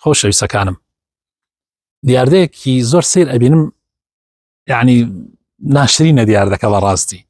خۆشەویستەکانم دیاردەیەکی زۆر سیر ئەبینم یعنی ناشرینە دیاردەکە بە ڕاستی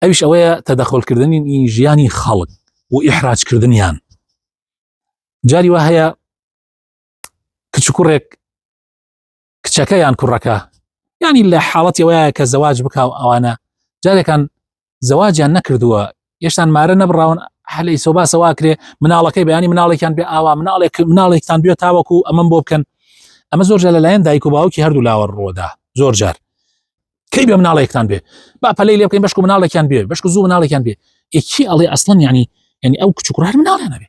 ئەوش ئەوەیە تەدەخۆلکردنی ئی ژیانی خەڵک و ئیحراجکردنیان جاری وە هەیە کچکوڕێک کچەکە یان کوڕەکە ینی لە حاڵەتی وایە کە زەواج بکە و ئەوانە جارێکان زەواجیان نەکردووە یشتان مارە نەبراون هەلی سۆباسەوا کرێ مناڵەکەی بەیانی مناڵێکیان بێ ئاوا مناڵێک مناڵێکتان بێت تاوەکو ئەمەم بۆ بکەن ئەمە زۆر جار لەلایەن دایک و باوکی هەردوو لاوە ڕۆدا زۆر جار کەی بێ مناڵێکتان بێ با پەلی لێ بکەین بەشک مناڵێکیان بێ بەشک زوو مناڵێکیان بێ یەکی ئەڵێ ئەسڵم ینی ینی ئەو کچ کوڕ مناڵێ نەبێ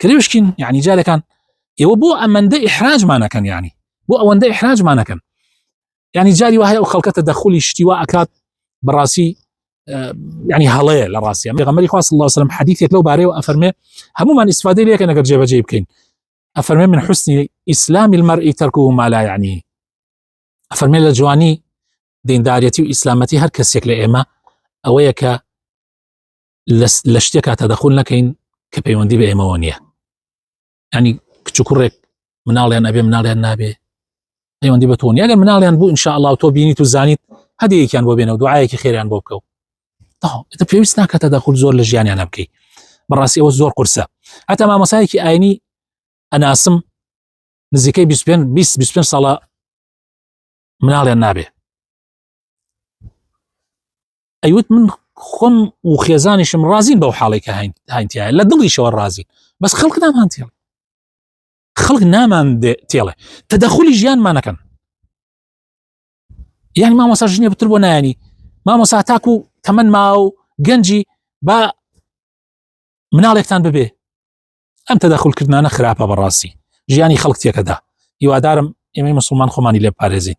کرێشکین یعنی جارەکان ئێوە بۆ ئەمەندە ئحراجمانەکەن ینی بۆ ئەوەندە ئحراجمانەکەن ینی جاری وهەیە ئەو خەڵکەتە دەخلی شتیوا ئەکات بەڕاستی ینی هەڵەیە لە ڕاستیان غەمەری خواست الله وسلم حەدیثێک لەو بارەیەوە ئەفەرمێ هەمومان ئیسفادەی لەکە نەگەر جێبەجێ بکەین ئەفەرمێ من حسنی ئیسلامی المەرئی تەرکو و مالا ینی ئەفەرمێ لە جوانی دیندارەتی و ئیسلامەتی هەر کەسێک لە ئێمە ئەوەیە کە لە شتێکا تەدەخول نەکەین کە پەیوەندی بە ئێمەوە نییە ینی کچ کوڕێک مناڵیان ئەبێ مناڵیان نابێ پەیوەندی بە تۆنی ئەگەر مناڵیان بوو انشاءله تۆ بینیت و زانیت هەدیەکیان بۆ بێنەوە دوعاەکی خێریان بۆ بکەو تە پێویست ناکە تەدەخول زۆر لە ژیانیان بکەیت بەڕاستی ئەوە زۆر قورسە هەتا مامەسایەکی ئاینی ئەناسم نزیکەی 25 ساڵە مناڵیان نابێ ئەیوت من خۆم و خێزانیشم ڕازین بەو حاڵی کە هاینتیایە لە دڵیشەوە ڕازین بەس خەڵک نامان تێڵ خەڵک نامان تێڵێ تەدەخلی ژیانمانەکەن یعنی مامۆسا ژنێ بتر بۆ نایانی مامۆسا تاکو تەمەەن ما و گەنجی با مناڵێکتان ببێ ئەم تەدەخلکردانە خراپە بەڕاستی ژیانی خەڵک تێکەدا هیوادارم ئێمەی مسلمان خۆمانی لێ پارێزین